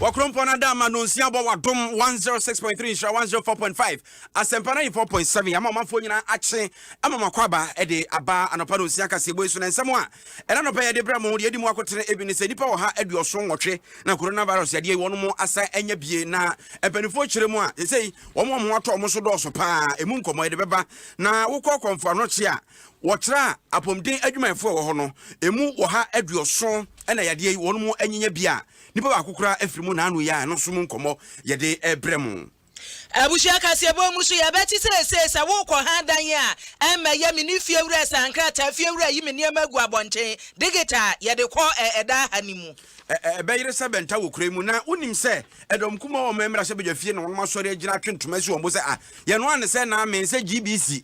Wɔkorɔmpɔn ada ama nonsia bɔ wadom 106.3 nhyira 104.5 asɛmpa 94.7 ama ɔmanfoɔ nyinaa akye ama makɔ aba de aba anɔpa nonsia kaseɛbɔ yi so na nsɛm a ɛna anɔpa yɛde brɛ mo deɛ ɛdi mu akotene ebi ne sɛ nnipa wɔ ha aduɔso nwɔtwe na coronavirus yadeɛ yi wɔn mo asan anya bie na mpanimfoɔ kyerɛ mu a sɛsei wɔn wɔn ho atɔ wɔn so dɔɔso paa ɛmu nkɔmmɔ yɛde bɛba na wokɔ kɔmfo anɔkye a Wɔkyerɛɛ apɔmuden adwumayɛfo a ɛwɔ hɔ no, emu ɔha aduɔson na yadeɛ yi wɔnom anyinya bi a nipa baako koraa afiri mu naano yi a ɛno nso mu nkɔmmɔ yɛde rebrɛ mo. Abusua kaseɛbɔ mu so yɛbɛte seesei sɛ worekɔ ha dan a ɛmmɛyɛ me ne fiewura saa nkrataa fiewura yi me nneɛma agu abɔnten digita a yɛde kɔ ɛ ɛda ha no mu. Ɛ ɛ ɛbɛyere sɛ bɛnta wɔ kura yi mu na wonim sɛ ɛdɔm kumaa wɔn mmra sɛ badwa fie na wɔnom asɔre agyina atwe ntoma asi wɔn bo sɛ a yɛnoa ne sɛ naame sɛ GBC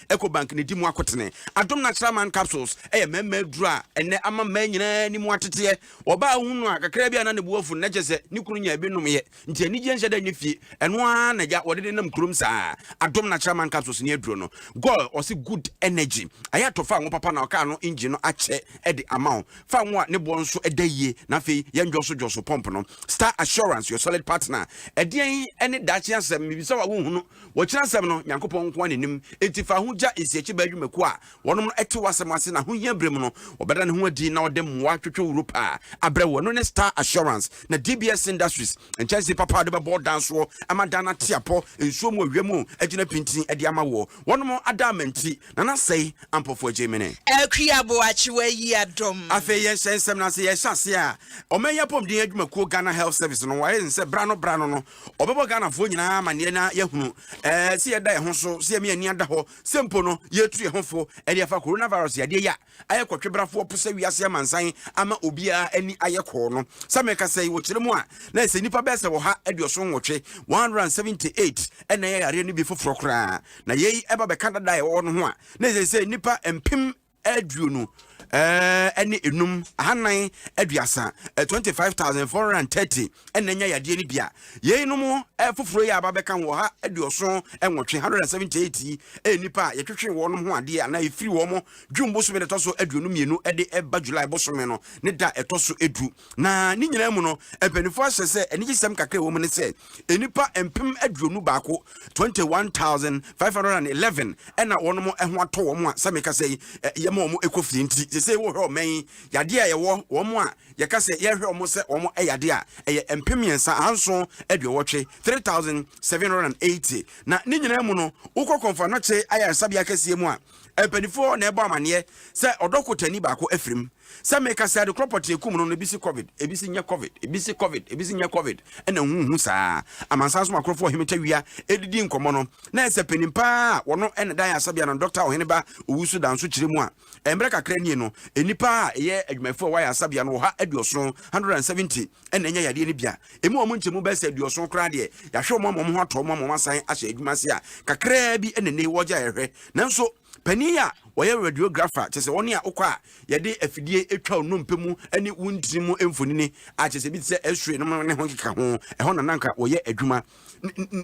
Ecobank na edi mu akotene. Adom Natural Aman Capsules yɛ mmarima aduru a ɛnnɛ ama mmaa nyinaa ani mu ateteɛ. Ɔbaa a ohu no a, kakraa bi a na ne bo afu no, na kyerɛ sɛ ne kunu nyaa bi nomeeɛ. Nti anigyeɛ nhyɛ da nyɛ fie. Ɛno ara na agya wɔde nenam kurom saa. Adom Natural Aman Capsules ne aduro no. Goil ɔse good energy. Ayatɔ fa ngo papa na ɔkaa no engine no akyɛ de ama wo. Fa ngo a ne boɔ nso da yie na afei yɛ ndwɔsodwɔso pump no. Star Assurance, your solid partner. Ɛdeɛn ne daakye asɛm? Mebisa wo a wonhu no. Wɔ Kyerɛwnsɛm no, Nyankopɔn nko ara na nim, enti fa ho gya nsiakyibaa dwumakuw a wɔnom no te w'asɛm ase na ahohia bere mu no wɔbɛda ne ho adi na wɔde mmoa twotwo wuro pa abrɛ wo. Ɛno ne Star Assurance na DBS Industries nkyɛnsee papa a wɔde bɛbɔ wo dan soɔ ama dan no ate apɔ nsuo mu, ɔwia mu agyina pintinn de ama woɔ. Wɔnom ada ama nti na na sɛi ampɔfoɔ agye me ne. Akwi Aboakye wɔayi adɔm. Afei yɛnhyɛ nsɛm no ase. Yɛhyɛ aseɛ a, Ɔman yi Apɔmuden Adwumakuo, Ghana Health Service, no wɔayɛ no sɛ berɛ ano berɛ ano no ɔbɛbɔ Ghanafoɔ nyinaa amaneɛ na yɛahunu eh, sɛ yɛda yɛn ho so, sɛ yɛmi ani ada hɔ, sɛ mpo no yɛtu yɛn ho fo ɛde afa coronavirus yadeɛ yi a ayɛ kɔtwebrafoɔ po sɛ wiase amansan ama obiara ani ayɛ kɔɔ no. Sɛ meka sɛ wɔ kyerɛ mu a, na ɛsɛ nnipa bɛyɛ sɛ ɔha aduɔson nwɔtwe, 178, ɛna ɛyɛ yareɛ no bi foforɔ koraa. Na yei ɛba bɛka dada a yɛwɔ hɔ no ho a, na ɛsɛ sɛ nnipa mpem aduonu ne enum, ahanan aduasa, twenty five thousand four hundred and thirty ɛna anya yadeɛ no bi a yeinom foforɔ yi a aba bɛka ho ɔha aduɔson nwɔtwe hundred and seventy eight yi ɛyɛ nnipa a yɛtwetwe wɔn ho adeɛ anaa ɛfiri wɔn June bosome na ɛtɔ so aduonu mmienu ɛde ɛba July bosome no ne da ɛtɔ so edu Na ne nyinaa mu no, mpanyimfo ahyɛ sɛ anigyesɛm kakra a ɛwɔ mu ne sɛ nnipa mpem aduonu baako, 21,511, na wɔn ho atɔ wɔn a sɛ mekasa yi, yɛma wɔn kɔ fie nti. Sɛ sɛ wohwɛ ɔman yi, yadeɛ a ɛwɔ wɔn a yɛka sɛ yɛhwɛ wɔn sɛ wɔn yade a, ɛyɛ mpem mmiɛnsa, ahanson aduowɔtwe, 3,780. Na ne nyinaa mu no, wokɔ Kɔmfo Anɔkye Ayaresabea kɛseɛ mu a, Mpanyimfo hɔ na ɛbɔ amanneɛ sɛ ɔdɔ kotani baako afirim. Sɛ meka sɛ ade korɔ pɔtee kum no no, ebi se covid, ebi se nyɛ covid, ebi se covid, ebi se nyɛ covid, ɛna nhuhu saa. Amansan so makorofo Ɔhene Tawia redidi nkɔmmɔ no, na ayɛ sɛ panyin pa ara a wɔno na ɛda ayaresabea no Dɔkta Ɔhene Ba Owusu da nso kyerɛ mu a. Mmerɛ kakra nie no, nnipa a ɛyɛ adwumayɛfo a ɛwɔ ayaresabea no ɔha aduɔson, 170, ɛna anya yadeɛ no bi a ɛmu wɔn nkyɛmu bɛyɛ sɛ aduɔson koraa deɛ yɛahwɛ wɔn ama wɔn ho atɔ wɔn ama wɔn asan ahyɛ adwuma ase a kakraa bi ɛna ne wɔgya ɛhwɛ nanso panin a wɔyɛ radiographer kyɛ sɛ wɔn a wokɔ a yɛde afidie atwa nnompe mu ne wo ntini mu mfonini a kyɛ sɛ bi te sɛ x-ray nom ne ho keka ho ɛhɔ na nanka wɔyɛ adwuma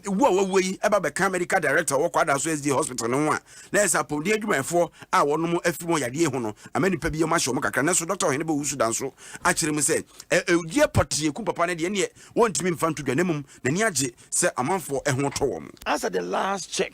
wu a wawu yi ɛba bɛka medical director wɔ kwadaa so sda hospital no ho a na ɛsɛ apɔmuden adwumayɛfoɔ a wɔnom afiri wɔn yadeɛ ho no ama nipa bi wɔn ahyɛ wɔn kakra nanso dɔkta ɔhene bɛwu so dan so akyerɛ mu sɛ ɛgyeɛ pɔtee ekum papa no deɛ neɛ wɔntumi mfa nto dwa na mmom n'ani agye sɛ amanfoɔ ɛho tɔ wɔn. As at the last check,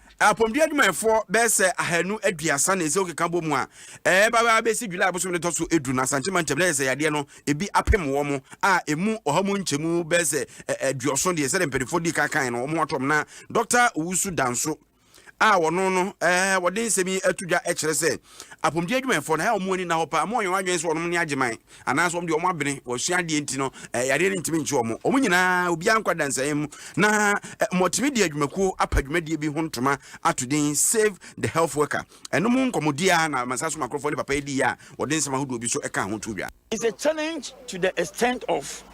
Apɔmuden adwumayɛfoɔ bɛyɛ sɛ ahanu aduasa na ɛsɛ wokeka bɔ mu a ɛreba bɛba bɛsi July bosome no ɛtɔ so edu na Asante mantam no ayɛ sɛ yadeɛ no ebi apem wɔn a emu ɔha mu nkyɛmu bɛyɛ sɛ aduɔson deɛ sɛdeɛ mpanimfoɔ di kan kan no wɔn atom na Dɔkta Owusu Danso a wɔno no wɔde nsɛm yi ato dwa kyerɛ sɛ Apɔmuden adwumayɛfoɔ no, ɛyɛ a wɔn ani nna hɔ paa, wɔnyɛ wɔn adwene sɛ wɔn ne Agyeman, anaasɛ wɔn deɛ wɔn abene, wɔasua adeɛ nti no, yadeɛ no ntumi nkye wɔn. Wɔn nyinaa, obiara nkɔ adansayɛ mu, na wɔatumi de adwumakuo apa dwumadie bi ho ntoma ato din Save the Health Worker. Ɛno mu nkɔmmɔdie ara na Mansa So Makorɔfoɔ ne papa yi diiɛ a wɔde nsɛm ahodoɔ bi nso kaa ho too dwa. It's a challenge to the extent of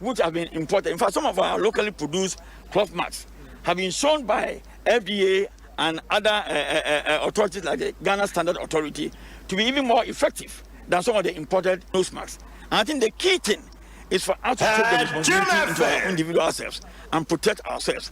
which have been imported, in fact some of our locally produced cloth masks have been shown by FDA and other uh, uh, uh, authorities like the Ghana Standard Authority to be even more effective than some of the imported nose masks. And I think the key thing is for us to take the uh, responsibility into our individual selves and protect ourselves.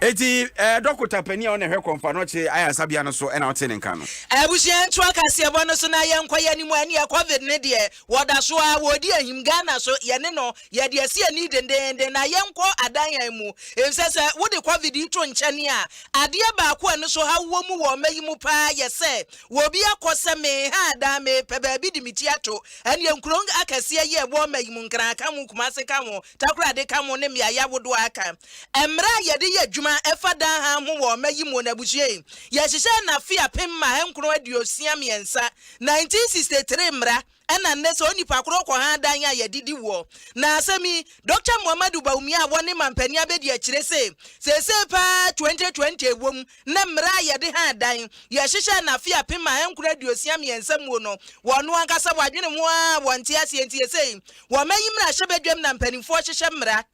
eti ɛɛ eh, dɔkota panyin a ɔna ɛhwɛ kɔnfa no ɔkye ayasabea no so ɛna ɔte ne nka no. abusua ntoa kaseɛbɔ no so na yɛn nkɔyɛ ne mu ɛne covid ne deɛ Wɔda so ara wɔredi ahim Ghana so yɛne no yɛde asi ani dendeenden na yɛnkɔ adan han mu nsɛ sɛ wode covid yi to nkyɛn a adeɛ baako a ani so haw wɔ mu wɔ mma yi mu paa yɛ sɛ wɔbi akɔ sɛ meha adan mepɛ baabi de me ti ato ɛneɛ nkuro akɛseɛ yi a ɛwɔ mma yi mu Nkran ka ho Kumase ka ho Takorade ka ho ne mmeaeɛ ahodoɔ a aka mmerɛ a yɛde yɛ adwuma ɛfa dan han ho wɔ mma yi mu na abusua yi yɛhyehyɛɛ no afe apem mma ahankron aduosia mmiɛnsa 1963 mmra ɛna nnɛ sɛ onipa korɔ kɔ ha dan a yɛdidi woɔ na asɛm yi Dɔkta Muhammadu Bawumia a wɔne mampanin abɛdi akyire se seesei paa 2020 ɛwom ne mmra a yɛde ha dan yɛhyehyɛɛ no afe apem a ɛnkoro aduosia mmiɛnsa muo no wɔno ankasa wɔadwene ho aa wɔnte aseɛ nti sesei wɔmayi mmrahyɛbadwam na mpaninfoɔ hyehyɛ mmra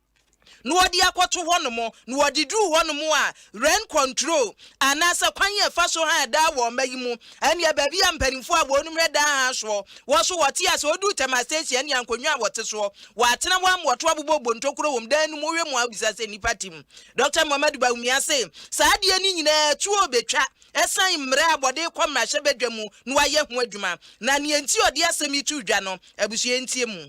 na wɔde akɔto hɔnom, na wɔde duru hɔnom a, rent control anaasɛ kwan a ɛfa so han daa wɔ ɔma yi mu, ɛnneɛ baabi a mpanimfoɔ a wɔnom hwɛ daa han soɔ wɔ so, wɔte ase, wɔduru Tema Station ɛnneɛ nkonnwa a wɔte soɔ, wɔatena hɔ ama wɔto abobɔ bontokuro wɔ mu, dan no mu, wohwɛ mu a wobisa sɛ nnipa te mu. Dɔkta Mohamadu Bawumia se saa adeɛ no nyinaa tuo bɛtwa ɛsiane mmerɛ a wɔde rekɔ mmarahyɛbadwa mu na wɔayɛ ho adwuma, na deɛ nti a ɔde asɛm yi too dwa no, abusua ntie mu.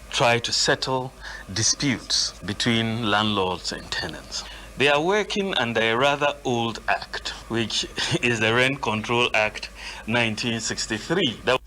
try to settle disputes between landlords and tenants they are working under a rather old act which is the rent control act 1963 the.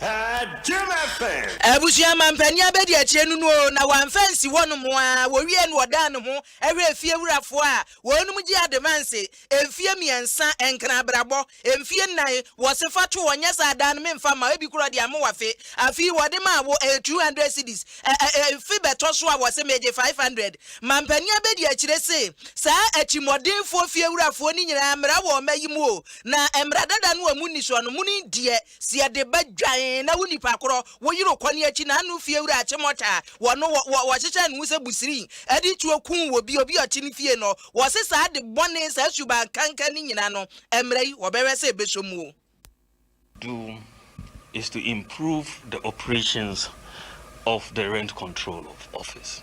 Jim FM. Abusua mampanin abɛdi akyire no no o na wamfa ansi hɔnom aa wɔwie no ɔdaa ne ho hwɛɛ fiewurafoɔ a wɔnom gye ademanse mfie mmiɛnsa ɛnkena abrabɔ mfie nnan wɔse fa to ɔnyɛ saa daa no menfa mma wo ebi kora ɔde amoa fe afei wɔde maa wo ɛyɛ 200 cedis ɛɛ mfe bɛtɔ so a wɔse megye 500 mampanin abɛdi akyire se saa atimɔdenfoɔ fiewurafoɔ no nyinaa mmra wɔ ɔma yi mu o na mmra dada no a mu nnisoɔ no muni deɛ Si yɛde ba dwan na wo nipa korɔ wo yere kɔ ne akyi na ano fie wura kye mɔta wɔ no wɔ wɔ wɔhyehyɛ ne ho sɛ busirii ɛde tuo kuu wɔ bi obi ɔte ne fie no wɔ se saa ade bɔne saa suban kanka ne nyina no ɛmmerɛ yi wɔ bɛhwɛ sɛ ɛbɛsɔ mu o. do is to improve the operations of the rent control of office.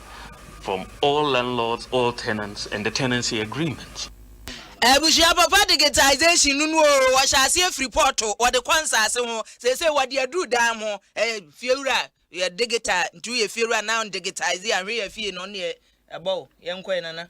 from all landlords, all tenants and the tenancy agreement. Abusua papa digitization no no oo, wɔhyɛ aseɛ firi pɔɔto, wɔde kɔ nsaase ho, seesei wɔde aduru dan ho, eh, fiewura yɛ digital, nti woyɛ fiewura now digitize a, hwɛ yɛ fie no, ɔno deɛ ɛbɔ o, yɛnkɔ yɛ nana.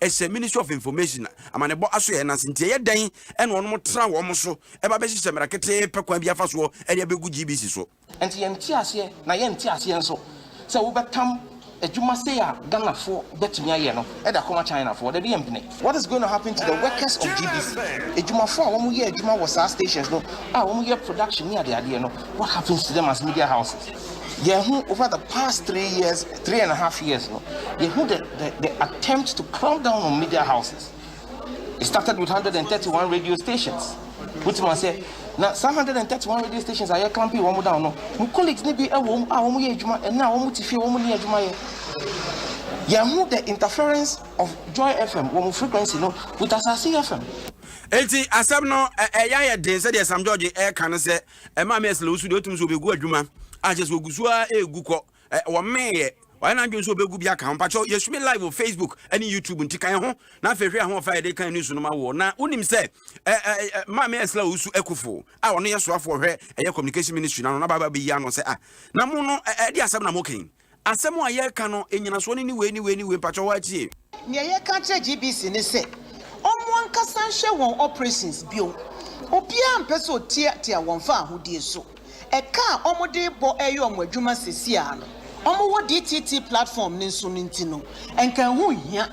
ɛhyɛ ministry of information amanebɔ asoɛɛ no ase nti ɛyɛ dɛn ɛna ɔnom tra wɔn so ɛba bɛhyehyɛ mmara ketee pɛ kwan bi afa soɔ ɛde abɛgu GBC so. Ɛnti yɛnte aseɛ na yɛnte aseɛ nso sɛ wobɛtam adwuma sei a Ghanafoɔ bɛtumi ayɛ no de akɔma Chinafoɔ, dabi yɛmpene. What is going to happen to the workers of GBC, adwumafoɔ a wɔn yɛ adwuma wɔ saa stations no a wɔn yɛ production ne adeadeɛ no, what happens to them as media houses? Yɛn ho over the past three years three and a half years no yɛhu the the the attempt to clamp down on media houses it started with hundred and thirty one radio stations wotumi asɛ na saa hundred and thirty one radio stations a yɛ clamping wɔn down no mu colleagues ne bi wɔ mu a wɔn yɛ adwuma ɛnna a wɔn ti fie wɔn ni adwuma yɛ yɛhu the interference of joy fm wɔn frequency no with asase fm. nti asɛm no ɛyɛ ayɛ den sɛdeɛ sam george ɛka no sɛ ɛma me ɛsɛ lɛ wosu deɛ wotumi so wɔbɛgu adwuma akyɛ sɛ wɔgu so a ɛgu kɔ ɛ wɔmeeɛ wayɛ n'adwene sɛ ɔbɛgu bi aka ho mpakyɛw yɛsu me live wɔ facebook ne youtube nti kan ho na afei hwɛ ahoɔfa a yɛde kan news no ma woɔ na wonim sɛ ɛ ɛ ɛ maame ɛsla ɔwusu akufo a ɔno yɛ soafoɔ hwɛ ɛyɛ communication ministry no ano na baaba bɛyi ano sɛ a na mo no ɛde asɛm na mo kan asɛm a yɛka no ɛnyinasoɔ no ne wei ne wei ne wei mpakyɛw hɔ atie Nea yɛka akyerɛ GBC ne sɛ ɔmo ankasa nhwɛ wɔn operations bio. Obiara mpɛ sɛ ɔtiatia wɔn fa ahodie so. Ɛka a ɔmo de bɔ ɛyɛ ɔmo adwuma sesiaa no, ɔmo wɔ DTT platform no nso no nti no, nka ɛho nhia.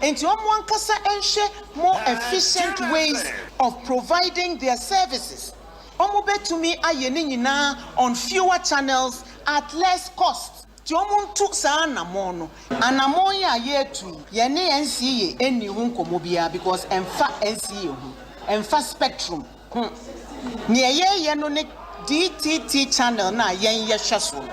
Enti ɔmo ankasa nhwɛ more efficient ways of providing their services. Ɔmo bɛtumi ayɛ ne nyinaa on fewer channels at less cost. Nti ɔmo ntu saa anamɔn no. Anamɔn yi a yɛretu yi, yɛne NCEA nnii ho nkɔmmɔ biara because ɛmfa NCEA ho, ɛmfa Spectrum ho. Nea yɛreyɛ no ne DTT channel no a yɛn yɛhwɛ so no.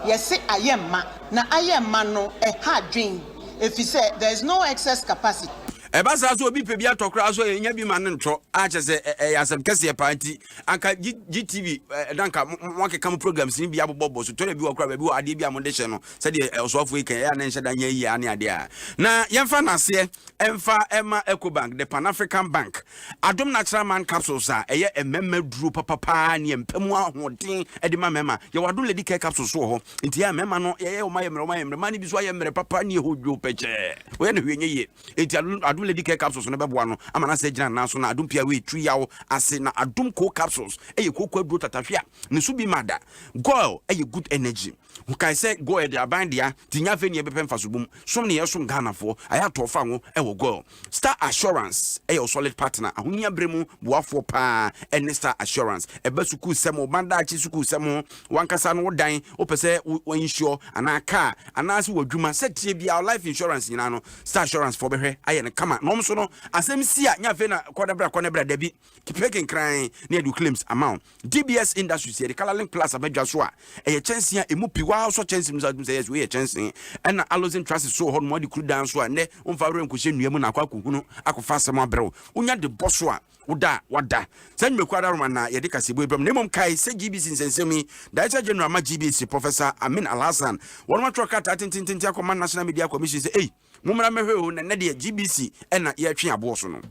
Yɛse ayɛ mma, na ayɛ mma no ɛha adwen efisɛ there is no excess capacity. Ɛba saa sɛ obi pɛ bi atɔ koraa nso a, yɛnnya bi ma no ntɔ a kyerɛ sɛ ɛyɛ asɛm kɛseɛ paa nti anka gtv eh, na anka moakeka mo programs no bi abobɔbɔ so tɔrɛ bi wɔ kora baabi wɔ adeɛ bi a mode hyɛ no sɛdeɛ eh, ɔsoafoɔ yi kan ɛyɛ a na nhyɛ da nyɛ yie ane adeɛ a na yɛmfa naseɛ ɛmfa ɛma ecobank the pan african bank adom no akyerɛ man capsules a ɛyɛ mmarima duro papapaa ne ɛmpa mu ahoɔden de ma mmarima yɛwɔ adom lady care capsules wɔ hɔ nti yɛ mmarima no yɛyɛ ɔma yɛ mmerɛ ɔma yɛ mmerɛ ma no bi so ayɛ mmerɛ papa ne ɛhɔ dwo pɛkyɛɛ woyɛ no hwɛ nyɛ yie Enti Adom Adom Lady Care Capsules no bɛboa no ama no asan agyina ne nan so na Adom Pia Wei tiri yaw ase na Adom Cold Capsules yɛ kooko aduro tatahwe a ne so bi ma da. Goil yɛ good energy. Kae sɛ Goil yɛde aban dea nti nyɛ afei ne yɛbɛpɛ mfaso bom. Som ne yɛresom Ghanafoɔ. Ayɛ atɔ fa ngo wɔ Goil. Star Assurance yɛ wo solid partner. Ahohia berɛ mu boafoɔ pa ara ne Star Assurance. Ɛba sukuusɛm, wo mma daakye sukuusɛm ho W'ankasa no wo dan, wo pɛ sɛ wo wo insure anaa car anaa se w'adwuma sɛ tie biaa wo life insurance nyinaa no star assurance foɔ bɛhwɛ ayɛ no kama na ɔmo nso no asɛm si a nyɛ afei na kɔ na bra kɔ na bra dabi pɛ kenkran na yɛde wo claims ama wo DBS industries yɛde color link plus aba dwa so a ɛyɛ kyɛnsee a ɛmu pi waa sɔ kyɛnsee mu sa tum sɛ yes wei yɛ kyɛnsee ɛna allosin trusses so wɔ hɔ nom ɔde kuru dan so a nnɛ womfa werɛ nkɔhyɛ nnua mu na akɔ akɔhunu akɔfa asɛm abrɛ wo wonya de bɔ so a Woda a wɔada saa nnwumakuo adaworoma na yɛde kaseɛbue brɛ mo, na mmom kae sɛ GBC nsɛnsɛm yi, Director General ma GBC, Professor Amin Alhassan, wɔnom atwerɛ krataa tentententen akɔma National Media Commission sɛ ei, mommra mmɛhwɛ o, na nnɛ deɛ GBC na yɛretwe aboɔ so no.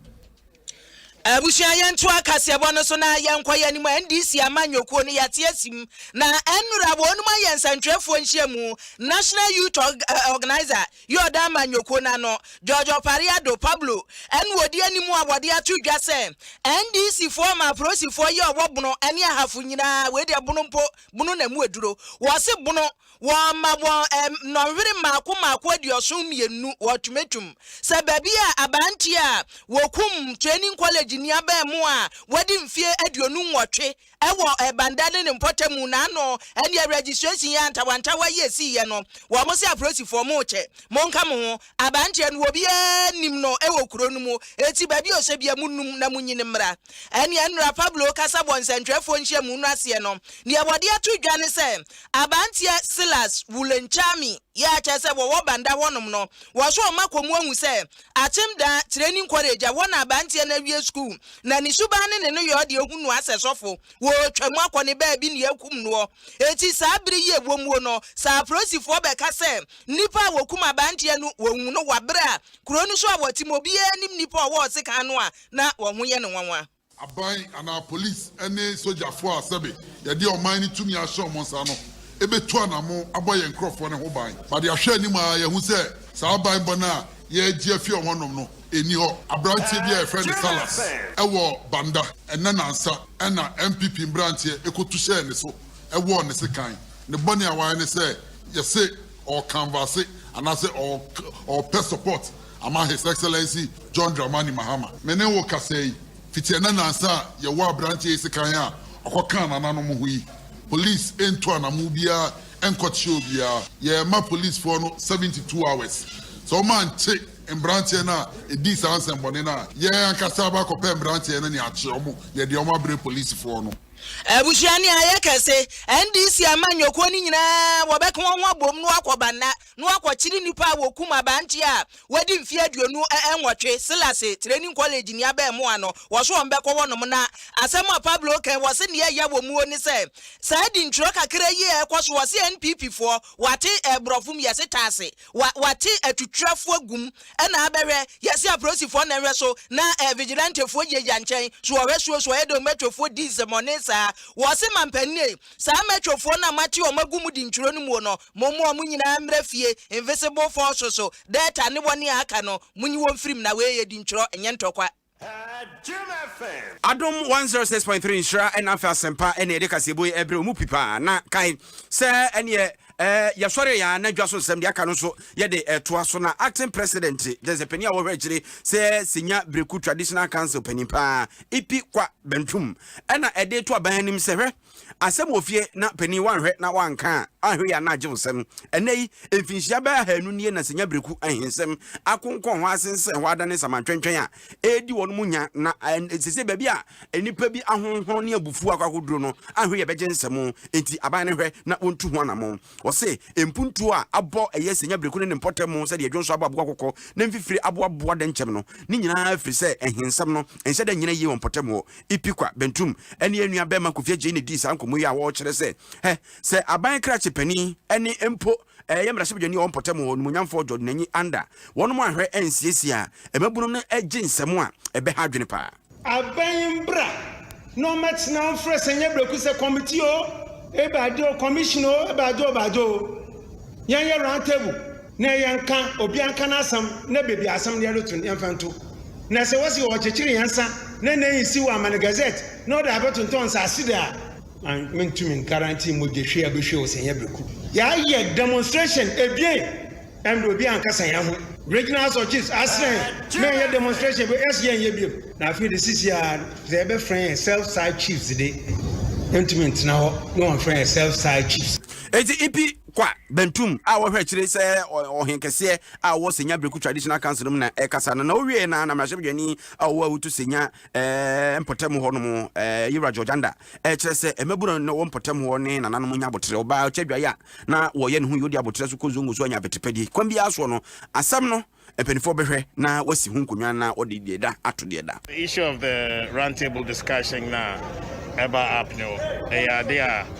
Abusua yɛntoa kaseɛbɔ no so na yɛnkɔ yɛn anim, NDC ama nnwokuo no yɛate asim, na ɛnnora wɔnom ayɛ nsɛntwerɛfoɔ nhyiamu, National Youth Organiser, Yordan Manyoko no ano, George Opare Addo, Pablo, ɛna ɔdi anim a wɔde ato dwa sɛ NDC foɔ ma aporosifoɔ yi a ɔwɔ Bono ne Ahafo nyinaa, wei deɛ Bono mpo, Bono na ɛmu aduro, wɔse Bono, wɔma wɔn nnɔnhwere mmaako mmaako aduɔson mmienu, ultimatum, sɛ baabi a aberanteɛ a wɔkum training college ni abaamuwa a wadi mfeɛ aduonu nwɔtwe, Ɛwɔ Ɛbanda ne ne mpɔtamu na ano ɛneɛ registration yɛ antawantawa yi ɛsii yɛ no wɔn se aporosifoɔ mo rekyɛ mo nka mo ho abanteɛ no obiara nnim no ɛwɔ kuro no mu eti baabi a ɔhyɛ bia mo num na mo nyini mmra ɛneɛ Nura Pablo kasa bɔ nsɛntwerɛfoɔ nhyiamu no aseɛ no neɛ wɔde ato dwa ne sɛ abanteɛ Silas Wulenchami yɛ akyɛ sɛ wɔwɔ Banda hɔnom no wɔso wɔn akɔ mu ahu sɛ Atsem da, Training College, a hɔ na abantsia no awie skuul, na ne suban ne ne no yɛ ɔdze ehu noa sɛ sɔfo. Wootwa mu akɔ ne beebi na yeekum noɔ. Etsi saa ber yi a ewɔ muo no, sɛ aporosifoɔ bɛka sɛ nyimpa a wokum abantsia no woehu no wɔ aber a kurow no so a wɔtse mu obiara nnyim nyimpa a ɔwɔ hɔ sekan no a, na hɔn ho yɛ no nwanwa. Aban anaa polisi ne sogyafo a sɛbe yɛde ɔman no tumi ahyɛ wɔn nsa no betu anamon abɔ yɛn nkurɔfoɔ no ho ban. Ma de ahwɛ anim ara yɛahu sɛ saa banbɔ no a yɛregye afi wɔn hɔnom no nni hɔ. Aberanteɛ bi a yɛfrɛ no Salas wɔ Banda ɛnnɛ nnansa na NPP mberanteɛ kɔtu hyɛɛ ne so wɔɔ ne sekan. Ne bɔne a wayɛ ne sɛ yɛse ɔrekanvaase anaasɛ ɔrepɛ support Ama His Excellency John Dramani Mahama. Me ne wo kasa yi fiti ɛnɛ nansa a yɛwɔ aberanteɛ yi sekan a ɔkɔ kaa nananom ho yi. Police ntu anamo biara nkɔ kyeɛ obiara. Yɛ ma police foɔ no 72 hours. Sɛ wɔn ankye mberanteɛ no a ɛdii saa nsɛnbɔne no a, yɛn ankasa aba akɔ pɛ mberanteɛ no ne akye wɔn, yɛ deɛ wɔn abre police foɔ no. Abusua ne ayɛ kɛse. NDC amanyɔkuo no nyinaa wɔbɛka wɔn ho abom na wɔakɔ Banna. na wɔakɔkyere nnipa a wɔkum aberante a wadi mfe aduonu nwɔtwe, Silase Training College ni abɛɛmoa no, wɔse wɔn bɛkɔ hɔ nom na asɛm a Pablo kae wɔse nea ɛya wɔ muo ne sɛ saa dintwerɛ kakra yi a ɛkɔ so wɔse NPP foɔ wɔate ɛbrɔfo mu yɛse taase wa wɔate atutrɛfo agum ɛna abɛhwɛ yɛse aprosifoɔ na ɛhwɛ so na eh, vigilantefoɔ gyinagyina nkyɛn so wɔhwɛ suo so ɛyɛ dɛ wɔmɛtwefoɔ di nsɛmɔne saa wɔse mampanin Saa Metrofoɔ no a moate wɔn agu mo dinturo no muo no, momma wɔn nyinaa mmra fie, Invisible Force so, Delta ne wɔn a aka no, monyi wɔn mfirim na wei yɛ dinturo, ɛnyɛ ntɔkwa. Adom 106.3 nhyira ɛna afɛ asɛmpa ɛna yɛde kaseɛbɔ yi ɛbrɛ wo mu pi paa na kae sɛ ɛneɛ Eh, yɛsɔre yɛn a na dwa so nsɛm de aka no nso yɛde ɛtoa so na acting president de sɛ panin a wɔhwɛ akyire sɛ senya breku traditional council panin paa ipi kwa bantum ɛna ɛde to aban anim sɛ hwɛ asɛm wɔ fie na panin wanhwɛ na wanka a ahwɛ yɛ ana agye nsɛm ɛnɛ yi mfinhyia bɛyɛ ahanu nie na senya breku ahensɛm akonkɔn hɔ asensɛn hɔ adane samantwɛntwɛn a ɛredi wɔn mu nya, na sese baabi a nnipa bi ahonhono ne abufuo akɔ akoduro no, ahwe yɛ bɛgye nsɛm, enti aban no hwɛ na wɔntu ho anamɔn. Ɔse, mpuntuo a abɔ ɛyɛ senya bereku ne ne mpɔtam mu sɛdeɛ dwonsɔ abɔ aboa kɔkɔ ne mfifire aboaboa dɛnkyɛm no, ne nyinaa firi sɛ nhensɛm no nhyɛ da nnyina yie wɔ mpɔtam hɔ. Ipikwa Bentum ne yɛn nua bɛɛma Kofi Agyei na ɛdii saa nkɔmmɔ yi a wɔkyerɛ sɛ hɛ sɛ aban krakye panin ne mpo Ɛyɛ mmarahyɛbadwani a ɔwɔ mpɔtam hɔ, Onimuonyamfoɔ George Nanyi Anda, wɔnom anhwɛ ansiesie a, mmabunnom no gye nsɛm a ɛbɛha adwene paa. Abɛn mbra na ɔmɛtsena wo mfrɛ sɛ nyɛ brɛku sɛ kɔmiti o ebɛade o kɔmihyin o ebɛade o ebɛade o yɛn yɛ round table na yɛn nka obia nka n'asɛm na bebi asɛm no yɛde to no yɛn fɛ nto na sɛ wɔsi ɔɔkyekyere yɛn nsa na n'enyi si wɔ amane gazette na ɔde abɛtontɔn nsaase de a An mentumi nkarantin mogyahwie a bɛhwie wo sɛ nyɛ bɛku. Yɛayɛ demonstration ebien ɛmmerɛ obi ankasa yɛn ho. Regional Asɔkyees asrɛ yɛn ma yɛnyɛ demonstration bi yɛse yɛnyɛ biom. Na afei de sisi a sɛ yɛbɛfrɛ yɛn self style chiefs de yɛntumi ntena hɔ na wɔmfrɛ yɛn self style chiefs. Enti Ipi Kwa Bentum a ɔhwɛ akyire sɛ ɔhenkɛseɛ a ɔwɔ Senya Breku Traditional Council no mu na ɛkasa no na ɔwieɛ no ara na mmarahyɛbadwani a ɔwɔ Awutu Senya eh, mpɔtam hɔ nom eh, Yewura George Anda eh, kyerɛ sɛ eh, mmabura na wɔ mpɔtam hɔ ne nananom nya aboterɛ ɔbaa ɔkyɛ adwaeɛ a na wɔyɛ ne ho yɛ ɔdi aboterɛ so kɔ zongo so anya abɛtepɛdeɛ kwan biara soɔ no asɛm no mpanimfoɔ bɛhwɛ na wasi ho nkonnwa na wɔde deɛ da ato deɛ da. The issue of the roundtable discussion na ɛba up no ɛyɛ ade a